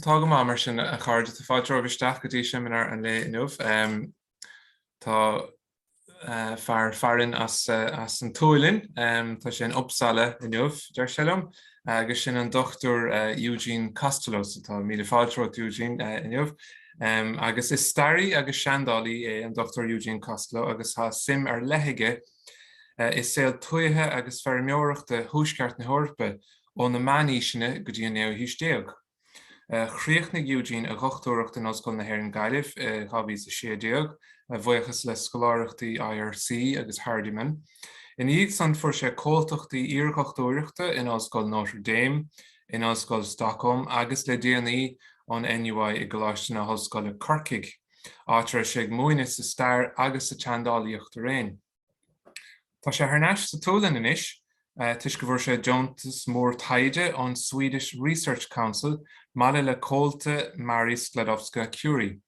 Tá go maith mar sin, a chairde. Tá fáilte romhaibh isteach go dtí seimineár an lae inniu. Tá fearadh fáilte as an tSualainn, tá sé in Uppsala inniu, deir sé liom, agus sin an Dr Eugene Costello, so tá. míle fáilte romhat, Eugene, inniu. Agus is staraí agus seandálaí é an Dr Eugene Costello agus tá suim ar leith aige i saol tuaithe agus feirmeoireachta Thuaisceart na hEorpa ó na Meánaoiseanna go dtí an naoú haois déag. Chríochnaigh Eugene a dhochtúireacht in Ollscoil na hÉireann Gaillimh i 2016, a bhuíochas le scoláireachtaí IRC agus Hardiman. Ina dhiaidh san fuair sé comhaltachtaí iardhochtúireachta in Ollscoil Notre Dame, in Ollscoil Stockholm agus le déanaí ón NUI i gColáiste na hOllscoile Corcaigh. áit a raibh sé ag múineadh sa stair agus sa tseandálaíocht araon. Tá sé thar n-ais sa tSualainn anois toisc go bhfuair sé deontas mór taighde ón Swedish Research Council maille le comhalta Marie Sklodowska-Curie,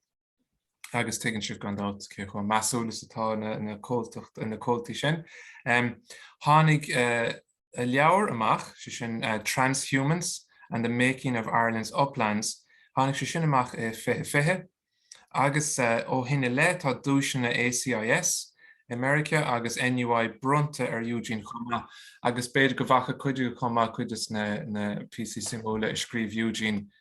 agus tuigeann sibh gan dabht cé chomh measúil is atá na comhaltaí sin. Tháinig leabhar amach, 'sé sin Transhumance and the Making of Ireland's Uplands, tháinig sé sin amach i 2020, agus ó shin i leith tá duaiseanna ACIS i Meiriceá agus NUI bronnta ar Eugene chomh maith, agus b'fhéidir go bhfaca cuid agaibh chomh maith cuid de na píosaí suimiúla a scríobh Eugene.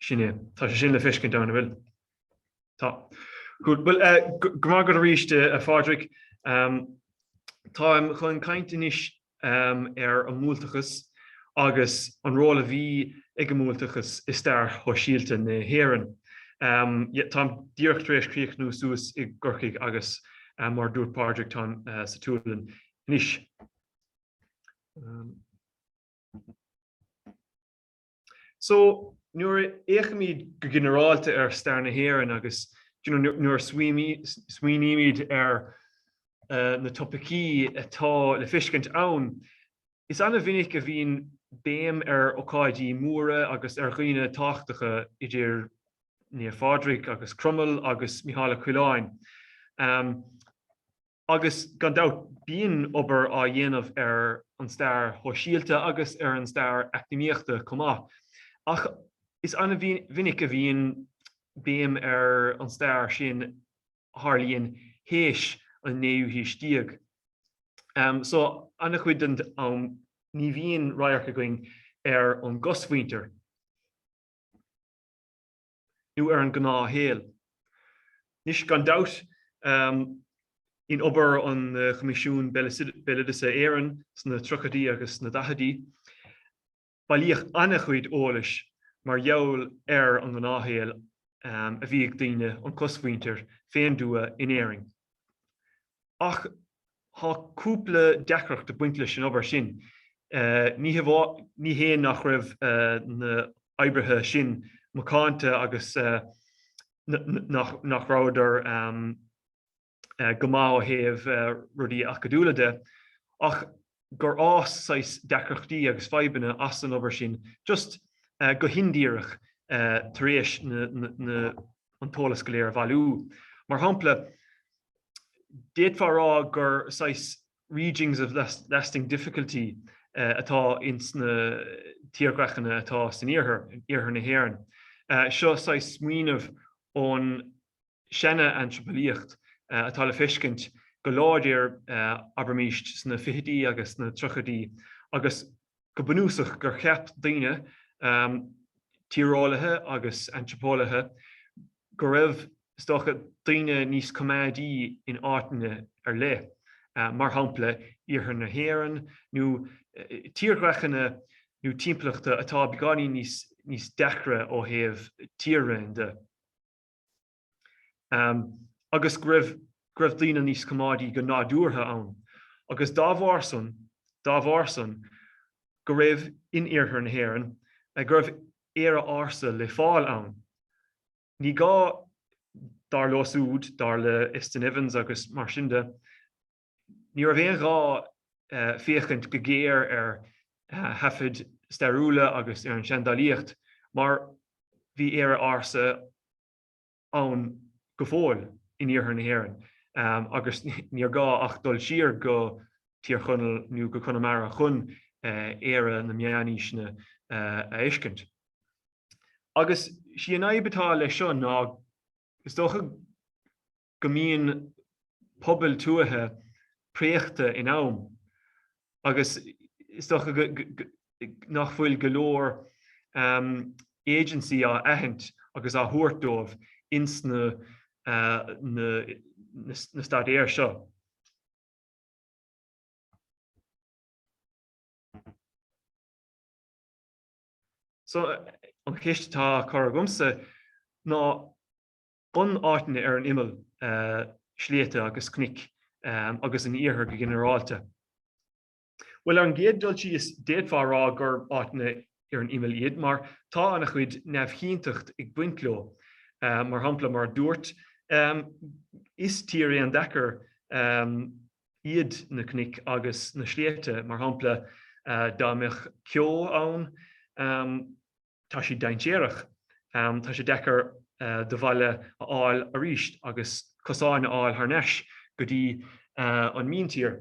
Sin é. Tá sé sin le feiscint ann, an bhfuil? Tá. Good. Well, go maith agat arís, a Phádraig. Táim chun caint anois ar an mbuailteachas agus an ról a bhí ag an mbuailteachas i stair shóisialta na hÉireann. Táim díreach tar éis críochnú suas i gCorcaigh agus, mar a dúirt Pádraig, táim sa tSualainn anois. So, nuair a fhéachaimid go ginearálta ar stair na hÉireann agus nuair a smaoinímid ar na topaicí atá le feiscint ann, is an-mhinic a bhíonn béim ar ocáidí móra agus ar dhaoine tábhachtacha idir Naomh Pádraig agus Cromail agus Mícheál Ó Coileáin. agus gan dabht bíonn obair á dhéanamh ar an stair shóisialta agus ar an stair eacnamaíochta chomh maith, ach is an-mhinic a bhíonn béim ar an stair sin a tharlaíonn tar éis an naoú haois déag. So an-chuid den am ní bhíonn radharc againn ar an gcosmhuintir. nó ar an ngnáthshaol. Anois, gan dabht, in obair an Choimisiúin Béaloideasa Éireann sna tríochaidí agus sna daichidí, bailíodh an-chuid eolais mar gheall ar an ngnáthshaol a bhí ag daoine, an cosmhuintir, fén dtuath in Éirinn. ach tá cúpla deacracht ag baint leis an obair sin. Ní hé nach raibh na h-oibrithe sin macánta agus nach rabhadar go maith ó thaobh rudaí acadúla de, ach gur fhás saghas deacrachtaí agus fadhbanna as an obair sin just go hindíreach tar éis an t-eolas go léir a bhailiú. Mar shampla, d'fhéadfá a rá gur saghas regions of lasting difficulty atá ins na tírdhreachanna atá san iarthar na hÉireann. Seo saghas smaoineamh ón. seanantraipeolaíocht atá le feiscint go láidir, abraimíst, sna fichidí agus sna tríochaidí agus go bunúsach gur cheap daoine, tíreolaithe agus antraipeolaithe, go raibh, is dócha, daoine níos coimeádaí in áiteanna ar leith, mar shampla iarthar na hÉireann nó tírdhreachanna nó timpeallachta atá beagáinín níos deacra ó thaobh tír-raon de. agus go raibh go raibh daoine níos coimeádaí go nádúrtha ann, agus dá bharr san dá bharr san go raibh in iarthar na hÉireann go raibh Éire ársa le fáil ann. Ní gá, dar leo súd, dar le Estyn Evans agus mar sin de, Ní raibh aon ghá féachaint go géar ar thaifid stairiúla agus ar an seandálaíocht mar bhí Éire ársa ann go fóill in iarthar na hÉireann agus níor ghá ach dul siar go Tír Chonaill nó go Conamara chun Éire na meánaoiseanna a fheiscint. Agus sí an fhadhb atá leis seo ná is dócha go mbíonn pobail tuaithe préachta in am agus is dócha nach bhfuil go leor agency á aithint agus á thabhairt dóibh ins na staidéir seo. So, an cheist atá á cur agamsa ná An áiteanna ar an imeall, sléibhte agus cnoic, agus an iarthar go ginearálta. Bhuel, ar an gcéad dul síos, d'fhéadfá a rá gurb áiteanna ar an imeall iad, mar tá an-chuid neamhchinnteacht ag baint leo. Mar shampla, mar a dúrt, is tír an-deacair iad na cnoic agus na sléibhte, mar shampla, dá mbeadh ceo ann, Tá siad dainséarach. Tá sé deacair do bhaile a fháil arís agus cosáin a fháil thar n-ais go dtí an míntír.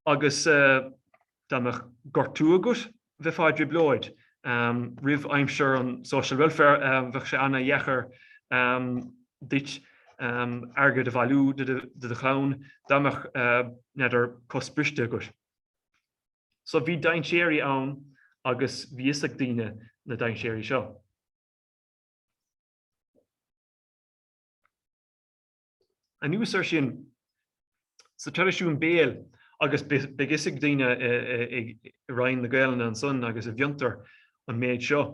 Agus dá mbeadh gortú agat, bheifeá i dtrioblóid. Roimh aimsir an social welfare, bheadh sé ana-dheacair duit airgead a bhailiú do do chlann dá mbeadh, n'fheadar, cos briste agat. So bhí dainséirí ann agus bhí fhios ag daoine na dainséirí seo. Anuas ar sin, sa traidisiún béil, agus beidh fhios ag daoine i Roinn na Gaelainne ansan agus i bhFiontar an méid seo,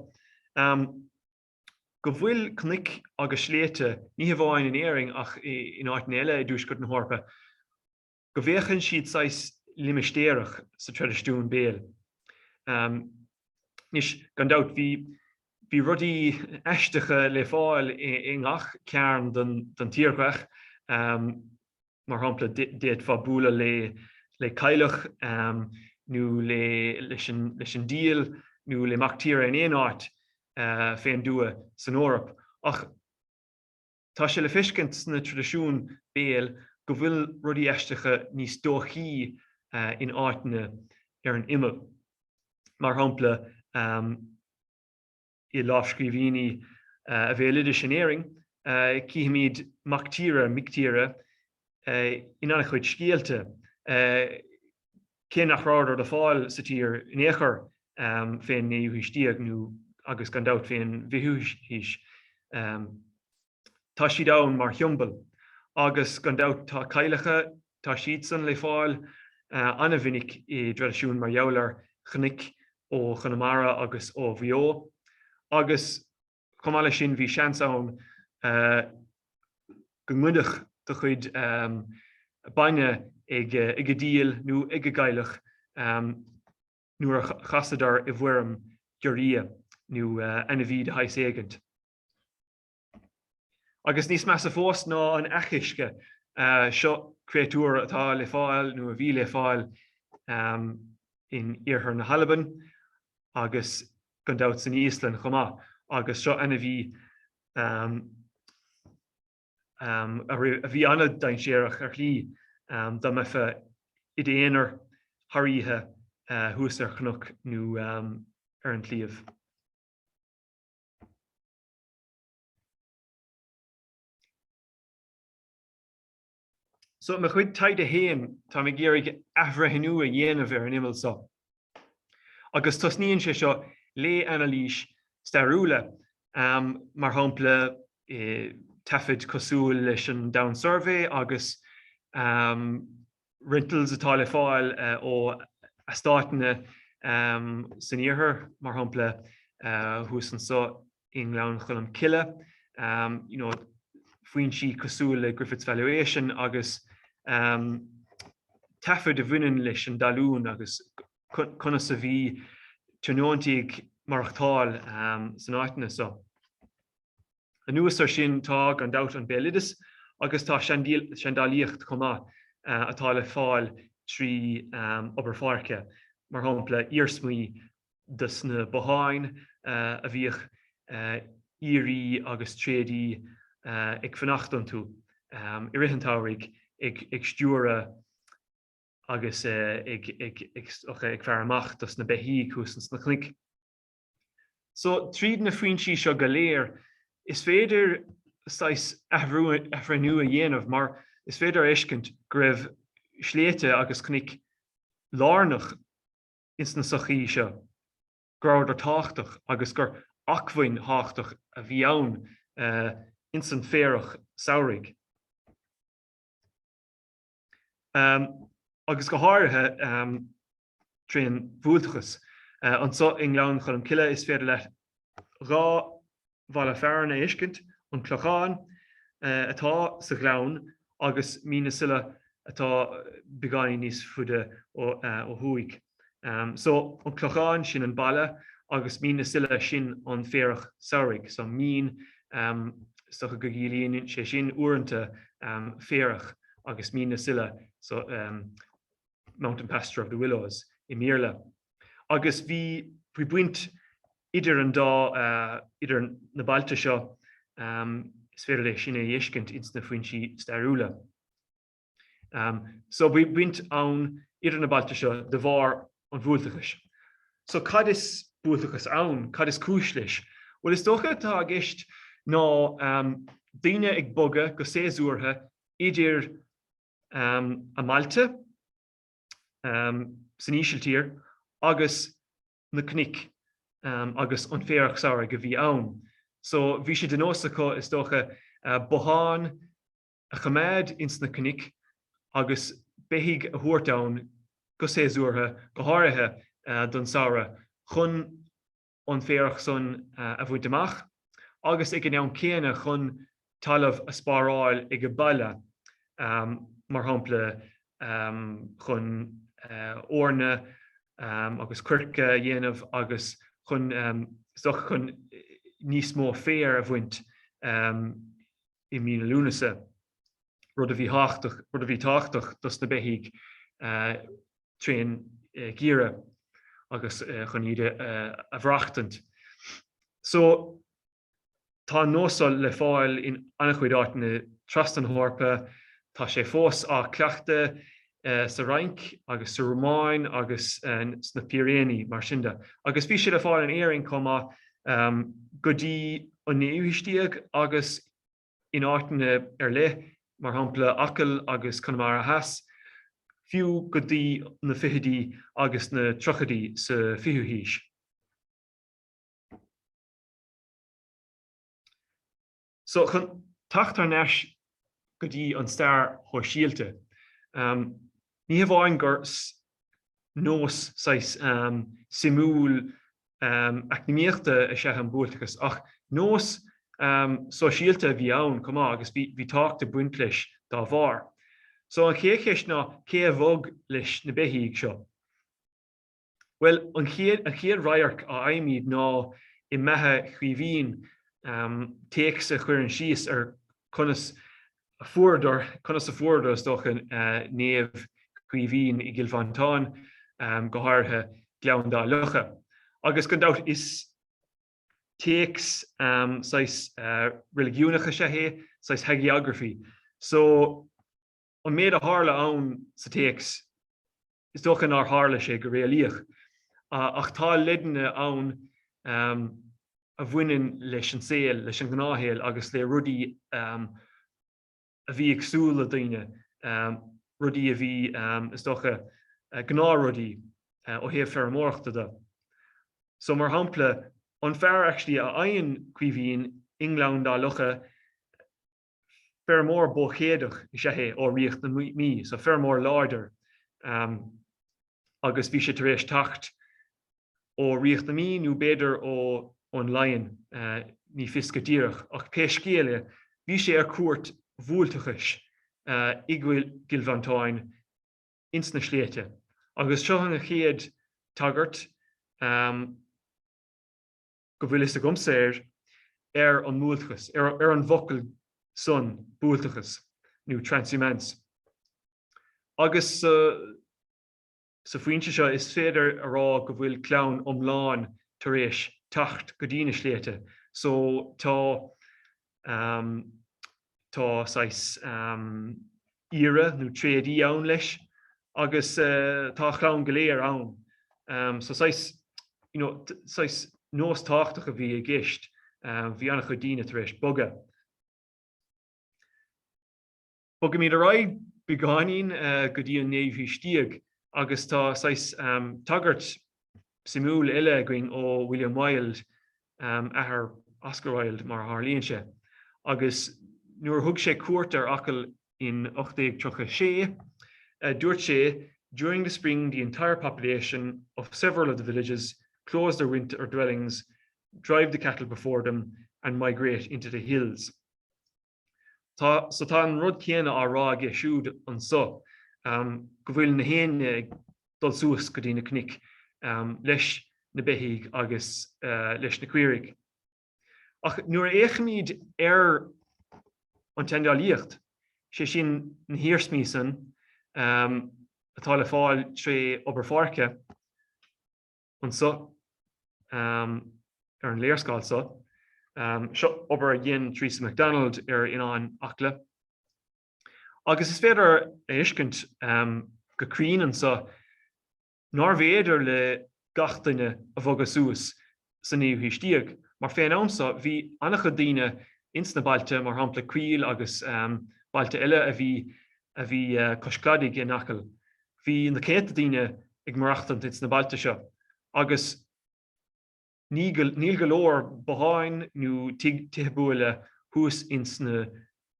go bhfuil cnoic agus sléibhte ní hamháin in Éirinn ach in áiteanna eile i dTuaisceart na hEorpa go bhféachann siad saghas limistéarach sa traidisiún béil. Anois, gan dabht, bhí bhí rudaí aisteacha le fáil i ngach cearn den tírdhreach, mar shampla, d'fhéadfá bualadh le le cailleach nó le leis an diabhal nó le mac tíre in aon áit fén dtuath san Eoraip ach, Tá sé le feiscint sna traidisiúin béil go bhfuil rudaí aisteacha níos dóichí in áiteanna ar an imeall. Mar shampla, i lámhscríbhinní an bhéaloidis in Éirinn, cífimid 'mac tíre', 'mic tíre', in an-chuid scéalta, cé nach rabhadar le fáil sa tír in aon chor fén naoú haois déag nó agus gan dabht fén bhfichiú haois. Tá siad ann mar shiombail agus gan dabht tá cailleacha, tá siadsan le fáil an-mhinic i dtraidisiún mar gheall ar chnoic ó Chonamara agus ó Mhaigh Eo agus, Chomh maith leis sin, bhí seans ann go ngoidfeadh do chuid bainne ag an diabhal nó ag an gcailleach nuair a chasadar i bhfoirm giorria nó ainmhí de shaghas éigint. Agus níos measa fós ná an each uisce, seo créatúr atá le fáil nó a bhí le fáil in iarthar na hAlban agus gan dabht san Íoslainn chomh maith, agus seo an a bhí a bhí an-dainséarach ar shlí dá mbeifeá i d'aonar thar oíche thuas ar chnoc nó ar an tsliabh. So i mo chuid taighde féin táim ag iarraidh athbhreithniú a dhéanamh ar an imeall so. Agus tosnaíonn sé seo le anailís stairiúla, um, mar shampla eh, taifid cosúil leis an Down Survey agus um, rentals atá le fáil uh, ó eastáiteanna um, san iarthar, mar shampla uh, thuas anso i nGleann Cholm Cille, you know, foinsí cosúil le Griffith's Valuation agus taifid a bhaineann leis an dtalún agus conas a bhí tionóntaithe ag maireachtáil san áiteanna so. Anuas ar sin tá gan dabht an béaloideas agus tá seandálaíocht chomh maith atá le fáil trí obair pháirce, mar shampla iarsmaí de sna botháin a bhíodh aoirí agus tréadaí ag fanacht iontu i rith an tsamhraidh ag stiúradh agus ag faire amach do sna beithígh thuas ins na cnoic so. Tríd na foinsí seo go léir is féidir saghas athbhreithniú a dhéanamh mar is féidir a fheiscint go raibh sléibhte agus cnoic lárnach, ins na sochaí seo, go rabhadar tábhachtach agus gur acmhainn thábhachtach a bhí ann ins an bhféarach samhraidh. Agus go háirithe trín bhuailteachas. Anso i nGleann Cholm Cille is féidir leat dhá bhaile fearainn a fheiscint, an Clochán atá sa ghleann agus Mín na Saileach atá beagáinín níos faide ó thuaidh. So, an Clochán, sin an baile agus Mín na Saileach, sin an féarach samhraidh. So, mín, is dócha go gciallaíonn sé sin uaireanta féarach agus Mín na Saileach, so, mountain pasture of the willows i mBéarla. Agus bhí baint Idir an dá, idir na bailte seo, is féidir é sin a fheiscint ins na foinsí stairiúla. So bhí baint ann idir na bailte seo de bharr an bhuailteachais. So cad is buailteachas ann? Cad is cúis leis? Bhuel is dócha atá i gceist ná daoine ag bogadh go séasúrtha idir a mbailte san ísiltír agus na cnoic agus an féarach samhraidh a bhí ann. So bhí sé de nós acu, is dócha, bothán a choimeád ins na cnoic agus beithígh a thabhairt ann go séasúrtha, go háirithe don samhradh, chun an féarach san a bhaint amach agus ag an am céanna chun talamh a spáráil age baile, mar shampla chun eorna agus coirce a dhéanamh agus chun sioc chun níos mó féir a bhaint i mí na Lúnasa, rud a bhí tábhachtach, rud a bhí tábhachtach dos na beithígh tríd an ngeimhreadh agus chun iad a bhreachtaint. Tá an nós seo le fáil in an-chuid áiteanna trasna na hEorpa. Tá sé fós á chleachtadh sa Fhrainc agus sa Rómáin agus sna Piréiní, mar sin de, agus bhí sé le fáil in Éirinn chomh maith go dtí an naoú haois déag agus in áiteanna ar leith, mar shampla Acaill agus Conamara Theas, fiú go dtí na fichidí agus na tríochaidí sa 20ú haois. So, chun teacht thar n-ais go dtí an stair shóisialta, ní hamháin gur nós saghas suimiúil eacnamaíochta is ea an buailteachas ach nós sóisialta a bhí ann chomh maith agus bhí tábhacht ag baint leis dá bharr. So, an chéad cheist ná, cé a bhog leis na beithígh seo? Bhuel, an chéad radharc a fhaighimid ná i mbeatha Chaoimhín, téacs a chuireann síos ar conas a fuaireadar, conas a fuair, is dócha, Naomh Caoimhín i gCill Mhantáin, go háirithe Gleann Dá Locha. Agus gan dabht is téacs saghas reiligiúnach is ea é, saghas hagiography. So, an méid a tharla ann sa téacs, is dócha nár tharla sé go réalaíoch, ach tá leideanna ann a bhaineann leis an saol, leis an ngnáthshaol agus le rudaí a bhí ag súil le daoine, rudaí a bhí, is dócha, gnáthrudaí ó thaobh feirmeoireachta de. So, mar shampla, an fear actually a fhaigheann Caoimhín i nGleann Dá Locha, Feirmeoir bó-chéadach is ea é ó Ríocht na Mí, so feirmeoir láidir agus bhí sé tar éis teacht ó Ríocht na Mí nó b'fhéidir ó ón Laighin, ní fios go díreach ach pé scéal é bhí sé ar cuairt bhuailteachais i gCill Mhantáin ins na sléibhte agus seo an chéad tagairt go bhfuil fhios agamsa air, ar an mbuailteachas, ar an bhfocal san buailteachas nó transhumance. Agus sa phointe so is féidir a rá go bhfuil clann iomlán tar éis teacht go dtí na sléibhte so tá Tá saghas aoire nó tréadaí ann leis agus tá a chlann go léir ann. So saghas, you know, saghas nós tábhachtach a bhí i gceist. Bhí an-chuid daoine tar éis bogadh. Bogaimid ar aghaidh beagáinín go dtí an naoú haois déag agus tá saghas tagairt suimiúil eile againn ó William Wilde, athair Oscar Wilde mar a tharlaíonn sé, agus nuair a thug sé cuairt ar Acaill in 1836, dúirt sé, During the spring the entire population of several of the villages closed their winter dwellings, drive the cattle before them, and migrate into the hills. So tá an rud céanna á rá aige siúd anso go bhfuil nach éinne ag dul suas go dtí na cnoc leis na beithígh agus leis na caoirigh. Ach nuair a fhéachaimid ar an tseandálaíocht, sé sin na hiarsmaí san atá le fáil tré obair pháirce, anso ar an léarscáil so. Seo obair a dhein Teresa McDonald ar Oileán Acla. Agus is féidir a fheiscint go cruinn anso nárbh fhéidir le gach duine bogadh suas sa naoú haois déag, mar fén am so bhí an-chuid daoine ins na bailte, mar shampla Caol agus bailte eile a bhí cois cladaigh in Acaill. Bhí na céadta daoine ag maireachtaint ins na bailte seo agus níl go leor botháin nó tithe buaile thuas ins na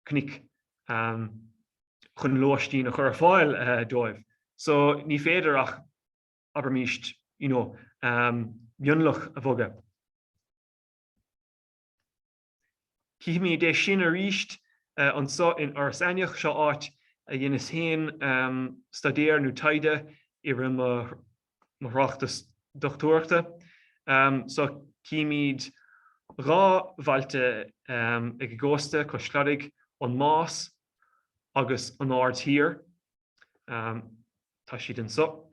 cnuic chun lóistín a chur ar fáil dóibh so ní féidir ach, abraimíst, you know, mionlach a bhogadh. Chífimid é sin arís anseo in Iorras Aithneach, seo áit a dheineas féin staidéar nó taighde i rith mo thráchtas dochtúireachta. Seo chífimid dhá bhailte ag an gcósta, cois cladaigh, an Más agus an Aird Thiar. Tá siad anseo.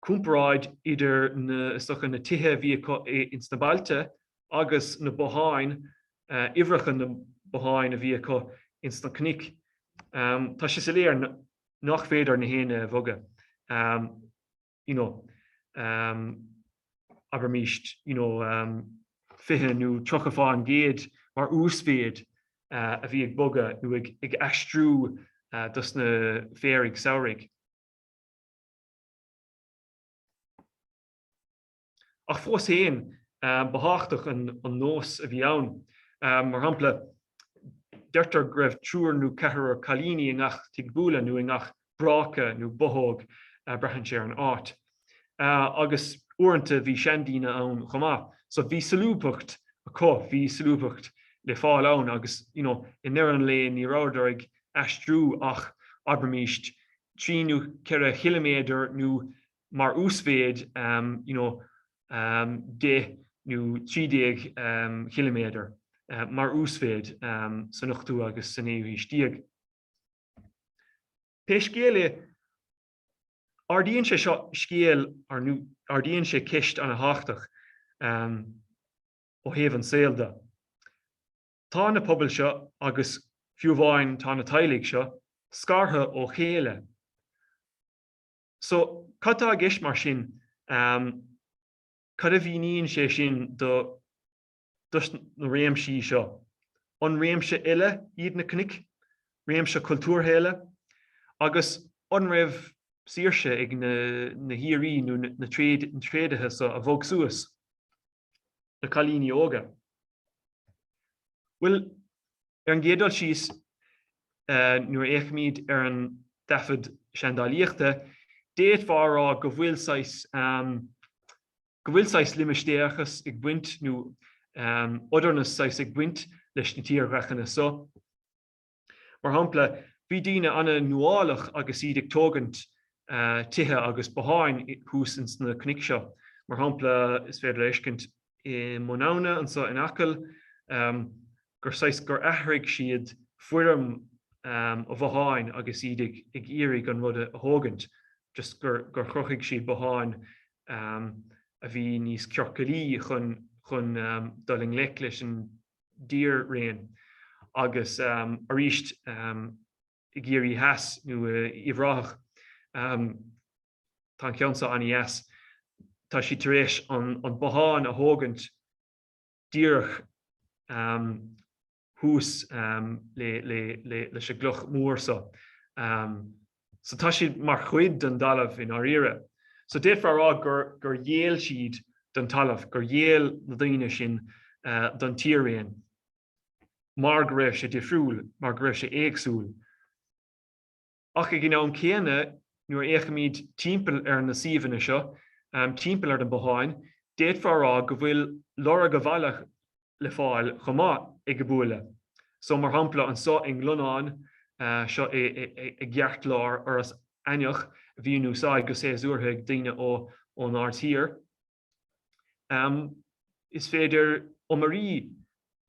comparáid idir is dócha, na tithe a bhí acu ins na bailte agus na botháin, uimhreacha na mbotháin a bhí acu ins na cnoic. Tá sé soiléir nach féidir gach éinne a bhogadh, you know, abraimis, you know, 20 nó 30% mar uasmhéid a bhí ag bogadh nó ag aistriú dos na féaraigh samhraidh. Ach fós féin, ba thábhachtach an nós a bhí ann. Mar shampla, deirtear go raibh triúr nó ceathrar cailíní i ngach tigh buaile nó i ngach bráca nó bothóg, braitheann sé ar an áit. Agus uaireanta bhí seandaoine ann chomh maith. So bhí solúbthacht acu, bhí solúbthacht le fáil ann agus, you know, i ndeireadh an lae ní rabhadar ag aistriú ach, abraimís, trí nó ceithre chiliméadar nó mar uasmhéid deich nó trí déag ciliméadar mar uasmhéid san ochtú agus sa naoú haois déag. Pé scéal é, ardaíonn sé seo scéal nó ardaíonn sé ceist ana thábhachtach ó thaobh an saol de. Tá na pobail seo, agus fiú amháin tá na teaghlaigh seo, scartha ó chéile. So, cad tá i gceist mar sin? Cad a mhíníonn sé sin do na réimsí seo? An réimse eile iad na cnoic, réimse cultúrtha eile? Agus an raibh saoirse ag na haoirí nó na tréadaithe so a bhog suas, na cailíní óga? Bhuel, ar an gcéad dul síos, nuair a fhéachaimid ar an dtaifead seandálaíochta, d'fhéadfá a rá go bhfuil saghas, go bhfuil saghas limistéireachas ag baint, nó otherness saghas ag baint leis na tírdhreachanna so. Mar shampla, bhí daoine ana nuálach agus iad ag tógaint tithe agus botháin thuas ins na cnoic seo. Mar shampla, is féidir a fheiscint i mBun Abhna anso in Acaill gur saghas gur athraigh siad foirm an bhotháin agus iad ag iarraidh an rud a thógaint, just gur chruthaigh siad bothán a bhí níos ciorcalaí chun dul i ngleic leis an. dtír-raon agus arís i gCiarraí Theas nó Uíbh Ráthach. Tá an ceann seo an-deas. Tá siad tar éis an bothán a thógaint díreach thuas leis an gcloch mhór seo. So tá siad mar chuid den talamh i ndáiríre. So d'fhéadfá a rá gur gur ghéill siad don talamh, gur ghéill na daoine sin don tír-raon mar go raibh sé difriúil, mar go raibh sé éagsúil. Ach ag an am céanna, nuair a fhéachaimid timpeall ar na suíomhanna seo, timpeall ar na botháin, d'fhéadfá a rá go bhfuil lorg an bhaile le fáil chomh maith ag an mbuaile. So mar shampla anso i nGlonnán, seo i i gceartlár Iorras Aithneach a bhí in úsáid go séasúrtha ag daoine ó ón Ard Thiar. Is féidir iomairí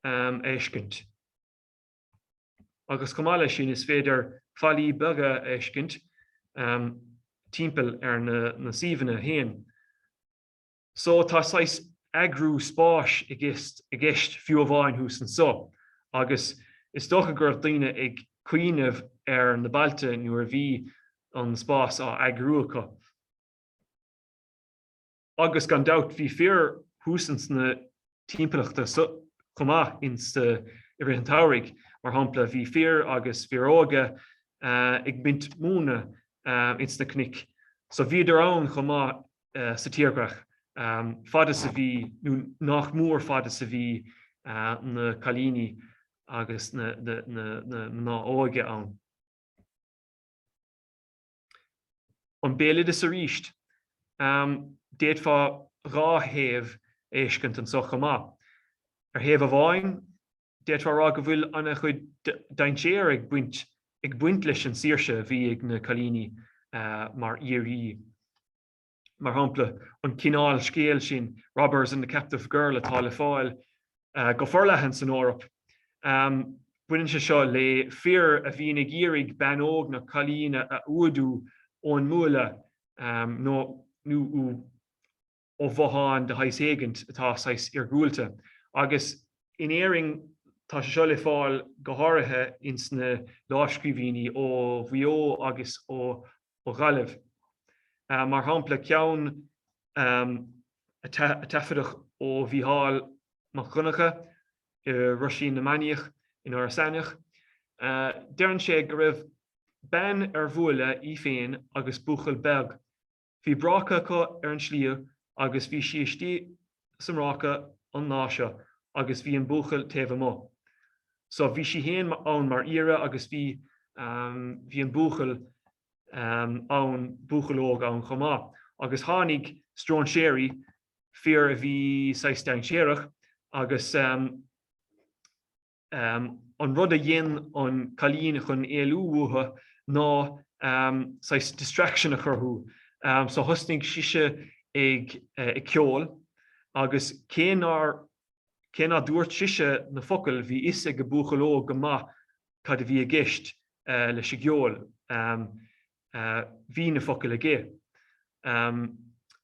a fheiscint. Agus chomh maith leis sin is féidir fallaí beaga a fheiscint timpeall ar na na suíomhanna féin. So tá saghas eagrú spáis i gceist fiú amháin thuas anseo agus is dócha go raibh daoine ag cuimhneamh ar na bailte nuair a bhí an spás á eagrú acu. Agus gan dabht bhí fir thuas ins na timpeallachta so chomh maith i rith an tsamhraidh. Mar shampla bhí fir agus fir óga ag baint móna ins na cnoic so bhíodar ann chomh maith sa tírdhreach, fad is a bhí nó nach mór fad is a bhí na cailíní agus na mná óga ann. An béaloideas arís. D'fhéadfá dhá thaobh a fheiscint anso chomh maith. Ar thaobh amháin D'fhéadfá a rá go bhfuil ana chuid dainséir ag baint ag baint leis an tsaoirse a bhí ag na cailíní mar aoirí. Mar shampla, an cineál scéal sin, Robbers and the Captive Girl atá le fáil go forleathan san Eoraip, baineann sé seo le fir a bhíonn ag iarraidh bean óg nó cailín a fhuadach ón mbuaile nó ó bhothán de shaghas éigin atá saghas iargúlta agus in Éirinn tá sé seo le fáil go háirithe ins na lámhscríbhínní ó Mhaigh Eo agus ó Ghaillimh, mar shampla ceann a taifeadadh ó Mhícheál Mac Dhonncha i Roisín na Mainíoch in Iorras Aithneach. Deireann sé go raibh bean ar bhuaile í féin agus buachaill beag Bhí bráca acu ar an sliabh agus bhí sí istigh sa mbráca an lá seo agus bhí an buachaill taobh amuigh. So bhí sí fhéin ann mar aoire agus bhí ehm, bhí an buachaill ehm, ann, buachaill óg ann chomh maith agus tháinig stróinséirí, fir a bhí saghas dainséarach agus an rud a dhein an cailín chun éalú uathu ná saghas distraction a chruthú. So thosnaigh sise ag ag ceol agus cé nár, cé ná dúirt sise na focail bhí 'fhios ag an buachaill óg go maith cad a bhí i gceist leis an gceol. Bhí na focail aici.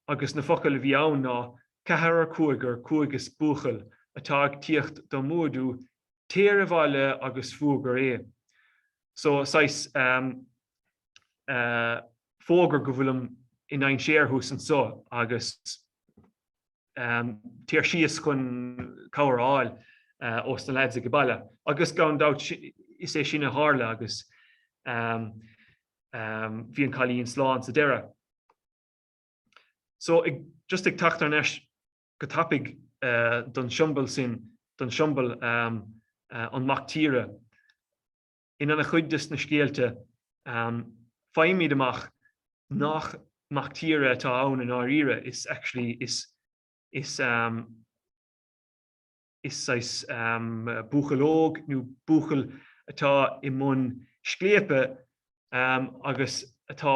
Agus na focail a bhí ann ná, Ceathrar, cúigear, cúigear is buachaill atá ag tíocht do mhóidiú, téir abhaile agus fuagair é. So, saghas fógair go bhfuilim i ndainséar thuas anso agus. Téir síos chun cabhair a fháil ós na leaids ag an baile agus gan dabht is é sin a tharla agus bhí an cailín slán sa deireadh. So just ag teacht thar n-ais go tapaidh don siombal sin, don siombal an mac tíre. In an-chuid de na scéalta, faighimid amach nach mac tíre atá ann i ndáiríre, is actually is saghas buachaill óg nó buachaill atá i mbun scléipe agus atá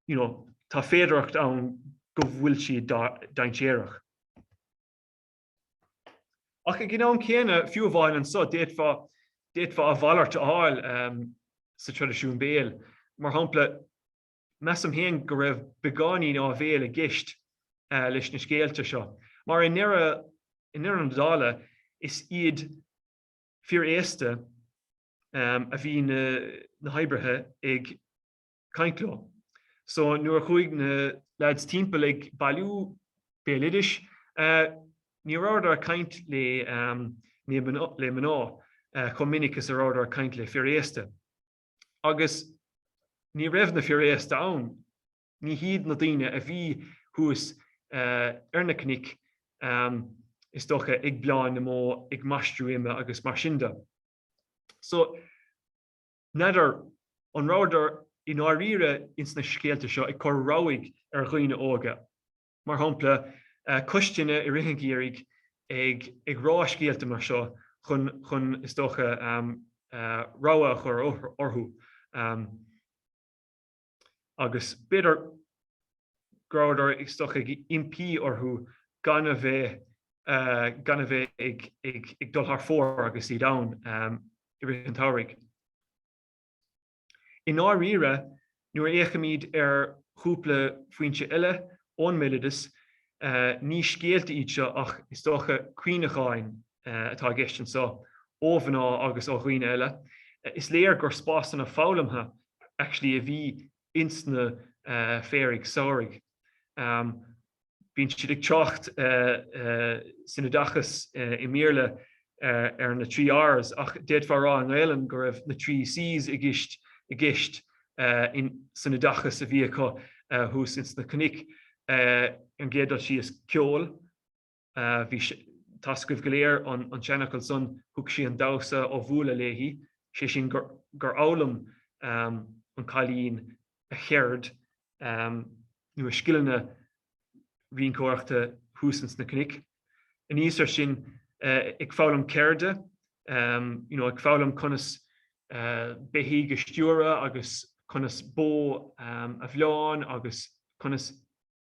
you know tá féidearthacht ann go bhfuil siad dainséarach. Ach ag an am céanna, fiú amháin anseo, d'fhéadfá, d'fhéadfá a mhalairt a fháil sa traidisiún béil. Mar shampla, measaim féin go raibh beagáinín áibhéile i gceist leis na scéalta seo, mar i ndeireadh na dála, is iad fir aosta a bhí na hoibrithe ag. caint leo. So nuair a chuaigh na leaids timpeall ag bailiú béaloidis ní rabhadar caint le le mná chomh minic is a rabhadar caint le fir aosta. Agus ní raibh na fir aosta ann, ní hiad na daoine a bhí thuas ar na cnoic is dócha ag bleáin na mbó ag maistriú ime agus mar sin de. So N'fheadar an rabhadar i ndáiríre ins na scéalta seo ag cur rabhaidh ar dhaoine óga, mar shampla, cois tine i rith an gheimhridh ag rá scéalta mar seo chun, is dócha, rabhadh a chur orthu. agus b'fhéidir go rabhadar istigh ag impí orthu gan a bheith gan a bheith ag ag dul thar fóir agus iad ann i rith an tsamhraidh. I ndáiríre, nuair a fhéachaimid ar chúpla foinse eile ón mbéaloideas, ní scéalta iad seo ach is dócha cuimhneacháin atá i gceist anseo, ó mhná agus ó dhaoine eile. Is léir gur spásanna foghlamtha actually a bhí ins na féaraigh samhraidh. Bíonn siad ag trácht san oideachas i mBéarla ar na trí Rs ach d'fhéadfá a rá i nGaelainn go raibh na trí Cs i gceist i gceist san oideachas a bhí acu thuas ins na cnoic. Ar an gcéad dul síos, ceol. Beidh fhios agaibh go léir an an seanfhocal san, thug sí an damhsa ón mbuaile léi, sé sin gur fhoghlaim an cailín a ceird nó a scileanna rinceoireachta thuas ins na cnoic. Anuas air sin ag foghlaim ceirde, you know, ag foghlaim conas beithígh a stiúradh agus conas bó a bhleán agus conas.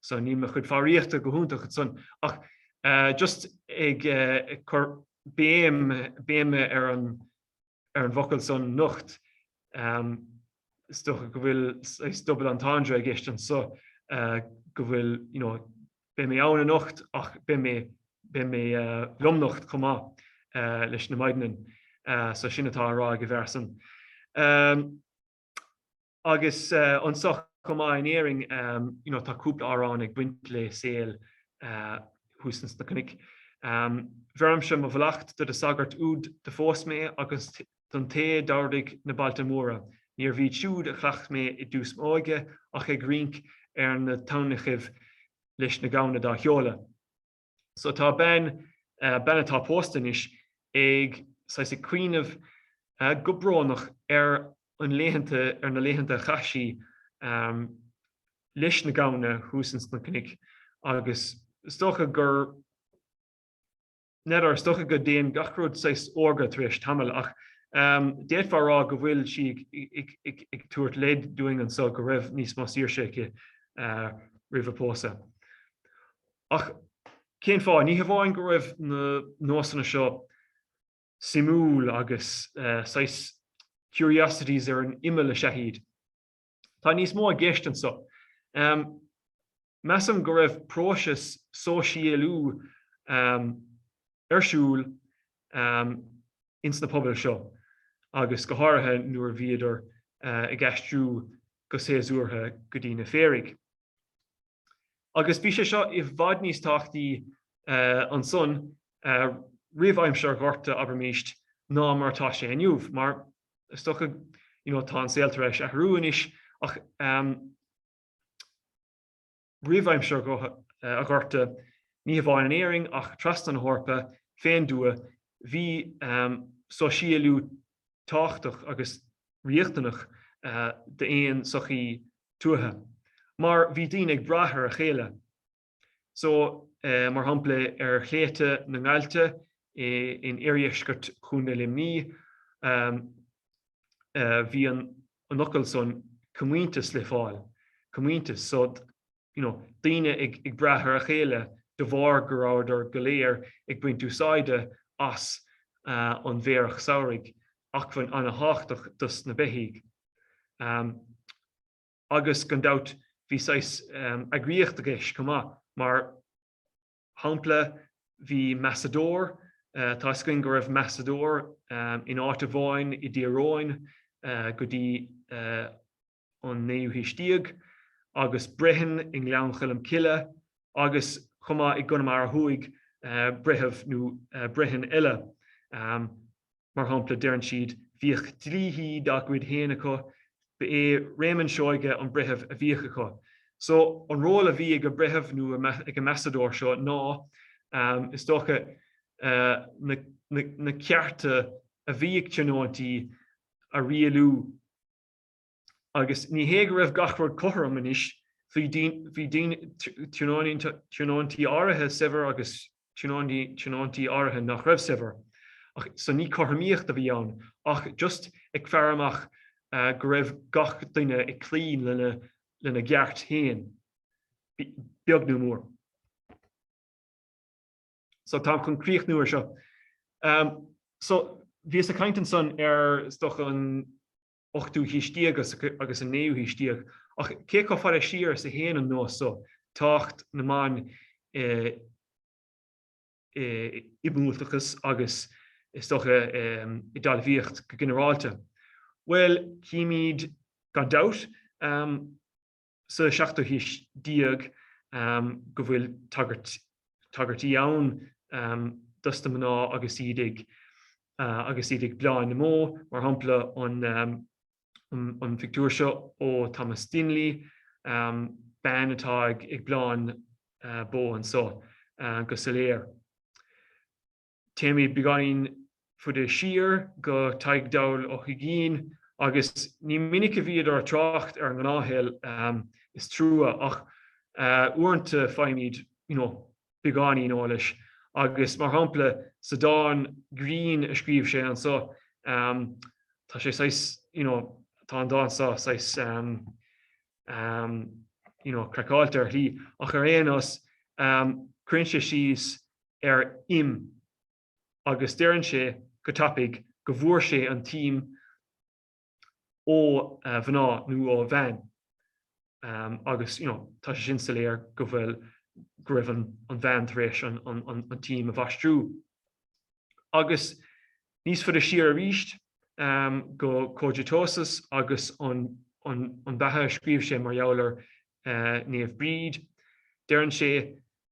So níl mo chuid foghraíochta go hiontach ansan ach just ag cur béim, béim ar an, ar an bhfocal san, nocht. Is dócha go bhfuil saghas double entendre i gceist anso go bhfuil, you know, beidh mé ann anocht ach beidh mé, beidh mé lomnocht chomh maith leis na maidneann. So sin atá á rá ag an bhfear san. Agus anseo chomh maith in Éirinn you know tá cúpla amhrán ag baint le saol thuas ins na cnoic. Bheirimse mo mhallacht do do sagart úd do phós mé agus don té d'ardaigh na bailte móra, níorbh iad siúd a chleacht mé i dtús m'óige ach ag rinc ar na tamhnachaibh leis na gamhna dá sheoladh. So tá bean, bean atá pósta anois, ag, saghas, ag cuimhneamh go brónach ar an laethanta, ar na laethanta a chaith sí leis na gamhna thuas ins na cnoic agus is dócha gur, n'fheadar, is dócha go dtéann gach rud saghas órga tar éis tamaill ach d'fhéadfá a rá go bhfuil sí ag tabhairt leid dúinn anseo go raibh níos mó saoirse aici roimh a pósadh. Ach cén fáth? Ní hamháin go raibh na nósanna seo suimiúil agus saghas curiosities ar an imeall is ea iad. Tá níos mó i gceist anseo. Measaim go raibh próiseas sóisialú ar siúl ins na pobail seo agus go háirithe nuair a bhíodar ag aistriú go séasúrtha go dtí na féaraigh. agus bhí sé seo i bhfad níos tábhachtaí ansan roimh aimsir an Ghorta abraimist ná mar atá sé inniu, mar is dócha, you know, tá an saol tar éis athrú anois, ach roimh aimsir an Ghorta, ní hamháin in Éirinn ach trasna na hEorpa, fén dtuath, bhí sóisialú tábhachtach agus riachtanach d'aon sochaí tuaithe mar bhí daoine ag brath ar a chéile so mar shampla ar shléibhte na nGailte in iardheisceart Chontae Luimní bhí an focal san comhaontas le fáil, comhaontas so you know, daoine ag brath ar a chéile de bharr go rabhadar go léir ag baint úsáide as an bhféarach samhraidh, acmhainn an-tábhachtach dos na beithígh. Agus gan dabht bhí saghas eagraíocht i gceist chomh maith, mar shampla bhí measadóir, tá 'fhios againn go raibh measadóir in áit amháin i dTír Eoghain go dtí an naoú haois déag, agus Brehon i nGleann Choilm Cille, agus chomh maith i gConamara Thuaidh, Breitheamh nó Brehon eile. Mar shampla, deireann siad, Bhíodh dlíthí dá gcuid féin acu. Ba é Réamonn Seoige an breitheamh a bhíodh acu. So, an ról a bhí ag an mbreitheamh nó ag an measadóir seo ná, is dócha, na cearta a bhí ag tionóintí a rialú. agus ní hé go raibh gach rud cothrom anois, bhí tionóintí áirithe saibhir agus tionóintí áirithe nach raibh saibhir, ach so ní cothromaíocht a bhí ann ach just ag faire amach go raibh gach duine ag cloí lena gceart féin, beag nó mór. So táim chun críochnú ar seo. So bhíos ag caint ansan ar ochtú haois déag agus an naoú haois déag, ach cé chomh fada siar is a théann an nós so, tábhacht na mban i mbuailteachas agus, is dócha, i dtalmhaíocht go ginearálta? Bhuel, chímid, gan dabht, sa seachtú haois déag go bhfuil tagairtí ann dos na mná agus iad ag bleán na mbó, mar shampla an phictiúr seo ó Thomas Dinley, bean atá ag bleán bó anseo go soiléir. Téimid beagáinín faide siar go Tadhg Dall Ó hUiginn agus ní minic a bhíodar ag trácht ar an ngnáthshaol, is trua, ach uaireanta faighimid you know beagáinín eolais agus mar shampla sa dán grinn a scríobh sé anseo tá sé saghas, you know, tá an dán seo saghas you know, craiceáilte ar shlí ach ar aon nós cuireann sé síos ar im agus deireann sé go dtabharfadh go bhfuair sé an t-im ó mhná nó ó bhean agus you know tá sé sin soiléir go bhfuil go raibh an bhean tar éis an t-im a mhaistreadh. Agus níos faide siar arís go Cogitosus agus an beatha a scríobh sé mar gheall ar Naomh Bríd, deireann sé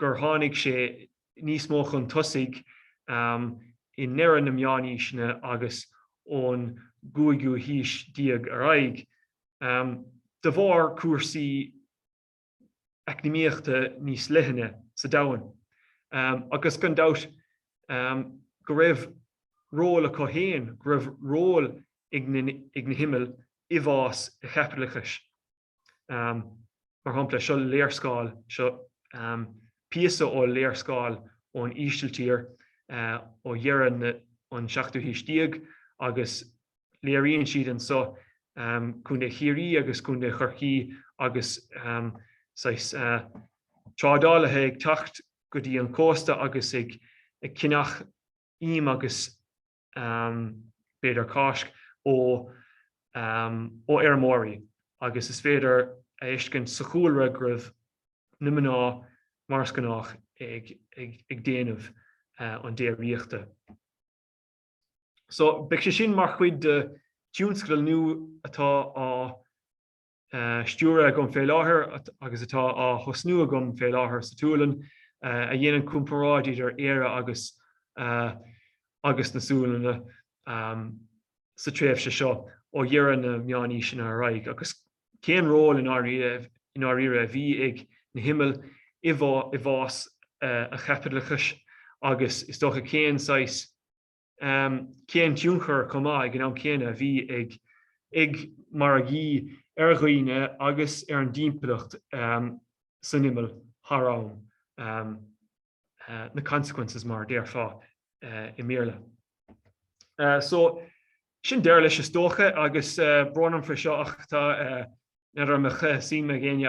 gur tháinig sé níos mó chun tosaigh i ndeireadh na Meánaoiseanna agus ón gcúigiú haois déag ar aghaidh, de bharr cúrsaí eacnamaíochta níos leithne sa domhan, agus gan dabht go raibh ról acu féin, go raibh ról ag na himill i bhfás an chaipitleachais. Mar shampla, seo léarscáil, seo píosa ó léarscáil ón Ísiltír ó dheireadh an tseachtú haois déag agus léiríonn siad anseo Contae Chiarraí agus Contae Chorcaí agus saghas trádálaithe ag teacht go dtí an cósta agus ag ceannach im agus b'fhéidir Cáisc, ó fheirmeoirí agus is féidir a fheiscint sa chúlra go raibh na mná mar is gnách ag déanamh an déiríochta. So beidh sé sin mar chuid de thionscadal nua atá á. stiúradh agam fé láthair agus atá á thosnú agam fé láthair sa tSualainn, a dhéanann comparáid idir Éire agus agus na Sualainne sa tréimhse seo ó dheireadh na meánaoiseanna ar aghaidh agus cén ról i ndáiríre a bhí ag na himill i bhfás an chaipitleachais agus is dócha cén saghas cén tionchar chomh maith ag an am céanna a bhí ag ag margaí ar dhaoine agus ar an dtimpeallacht san imeall thar am, the consequences mar a déarfá i mBéarla. So, sin deireadh leis is dócha agus brón orm fé seo ach tá, má tá aon suim ag éinne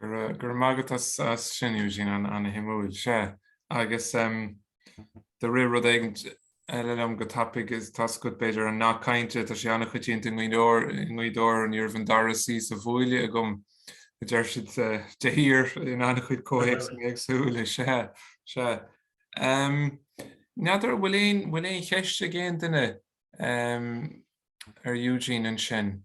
Go raibh maith agat as sin Eugene, an-shuimiúil. Agus do rith rud éigin eile liom go tapaidh i dtaobh b'fhéidir an nath cainte, tá sé an-choitianta i nGaoth Dobhair, ní raibh an dara suí sa bhuaile agam, a deir siad de shíor in an-chuid comhthéacsanna éagsúla. Sea, sea. N'fheadar an bhfuil aon, bhfuil aon cheist ag aon duine ar Eugene ansin?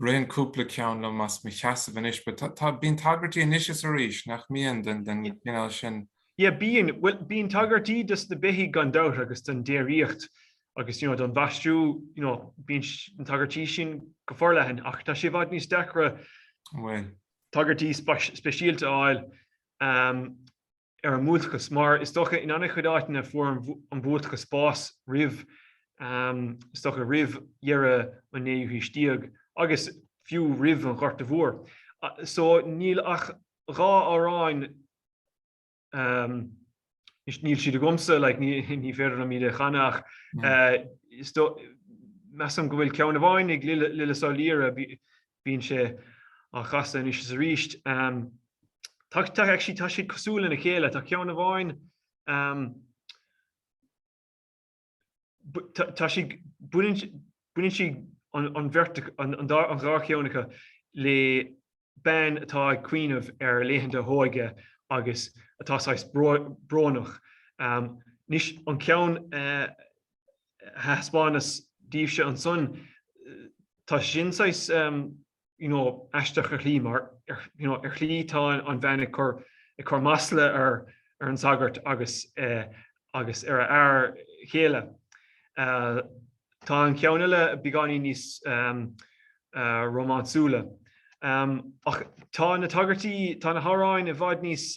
Ritheann cúpla ceann liom as mo sheasamh anois, but tá, bíonn tagairtí anois is arís, nach mbíonn, den chineál sin? Yeah, bíonn, bhuel, bíonn tagairtí dos na beithígh gan dabht agus don déiríocht agus, you know, don mhaistriú, you know, bíonn na tagairtí sin go forleathan ach tá sé i bhfad níos deacra tagairtí speisialta a fháil um, ar an mbuailteachas. Mar is dócha, in an-chuid áiteanna fuair an buailteachas bás roimh, is dócha, roimh dheireadh an naoú haois déag agus fiú roimh an Ghorta Mhór. So níl ach dhá amhráin, anois níl siad agamsa, like ní féidir liom iad a chanadh ach measaim go bhfuil ceann amháin ag Lillis Ó Laoire, Bíonn sé á chasadh anois is arís. Tá, tá, actually tá siad cosúil lena chéile. Tá ceann amháin um, tá sí baineann siad, an bheirt an, an, an dá cheann acu le bean atá ag cuimhneamh ar laethanta a hóige agus atá saghas brónach. Um, níl an ceann uh, thaispeánas daoibhse ansan, tá sé sin saghas aisteach ar shlí mar ar shlí tá an bhean ag cur masla ar an sagart agus ar a fear céile. Tá an ceann eile beagáinín níos rómánsúla. Ach tá na tagairtí, tá na hamhráin i bhfad níos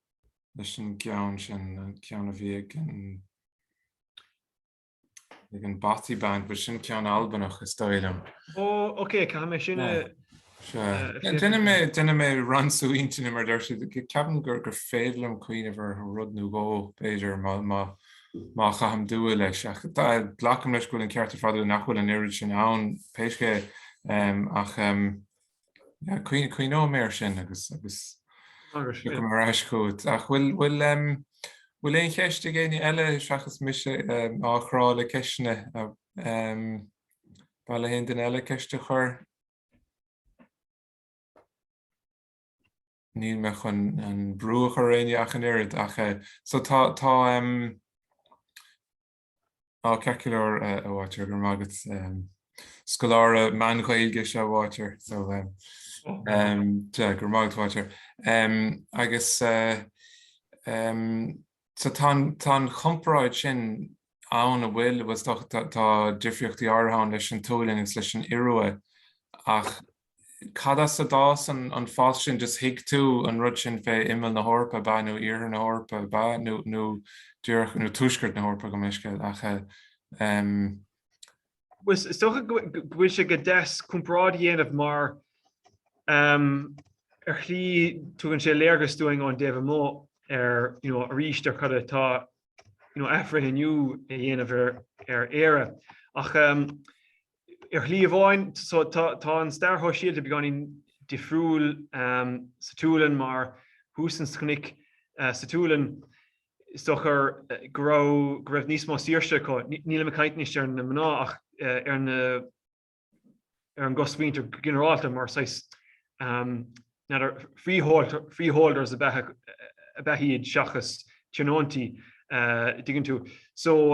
leis an gceann sin, an ceann a bhí ag an ag an Bothy Band, but sin ceann Albanach is dóigh liom. Ó, oke, caithfidh mé sin a... Déanfaidh mé, déanfaidh mé ransú intinne mar a deir siad, ceapaim gur gur féidir liom cuimhneamh ar rud nó dhó, b'fhéidir, má má má chaithim dua leis, ach glacaim leis go bhfuil an ceart ar fad agat nach bhfuil an oiread sin ann, pé scéal é, ach. Cuimhneoidh mé air sin agus tiocfaidh mé ar ais chugat. Ach bhfuil aon cheist ag éinne eile seachas mise ag crá le ceisteanna? Ar mhaith le haon duine eile ceist a chur? Níl mé chun aon bhrú a chur ar éinne ach an oiread. Ach so tá, tá, Tá ceart go leor a Bháitear, go raibh maith agat. Scoláire Meán-Ghaeilge is ea Bháitear, so go raibh maith agat Bháitear. Agus so tá an chomparáid sin ann a bhfuil, tá difríochtaí áirithe ann leis an tSualainn agus leis an Iorua ach Cad as a d'fhás an spéis sin? Just thuig tú an rud sin fé imeall na hEorpa ab ea nó iarthar na hEorpa ab ea nó nó díreach nó tuaisceart na hEorpa pé scéal é ach ehm. Is is dócha go go bhfuil sé go deas comparáid a dhéanamh mar ehm ar shlí tugann sé léargas dúinn ón dtaobh amuigh ar you know arís ar cad atá you know athbhreithniú a dhéanamh ar ar Éire ach ehm Ar shlí amháin, tá an stair shóisialta beagáinín difriúil sa tSualainn mar thuas ins na cnoic sa tSualainn, is dócha go raibh níos mó saoirse acu. Nílim ag caint anois ar na mná ach ar an gcosmhuintir go ginearálta mar saghas freeholders a b'ea iad seachas tionóintí, dtuigeann tú. So,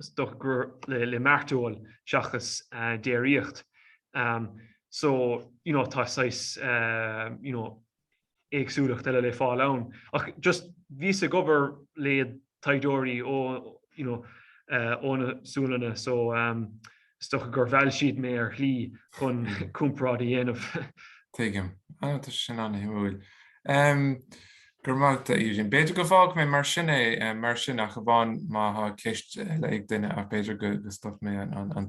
is dócha gur le mairteoil seachas déiríocht so you know tá saghas you know éagsúlacht eile le fáil ann ach just bhíos ag obair le taighdeoirí ó you know ó na Sualannaigh so Is dócha gur mheall siad mé ar shlí chun comparáid a dhéanamh. Tuigim. Á, tá sé sin an-shuimiúil. Go raibh maith agat, a Eugene. B'fhéidir go bhfágfaidh mé mar sin é mar sin ach amháin má tá ceist eile ag duine ach b'fhéidir go stopfaidh mé an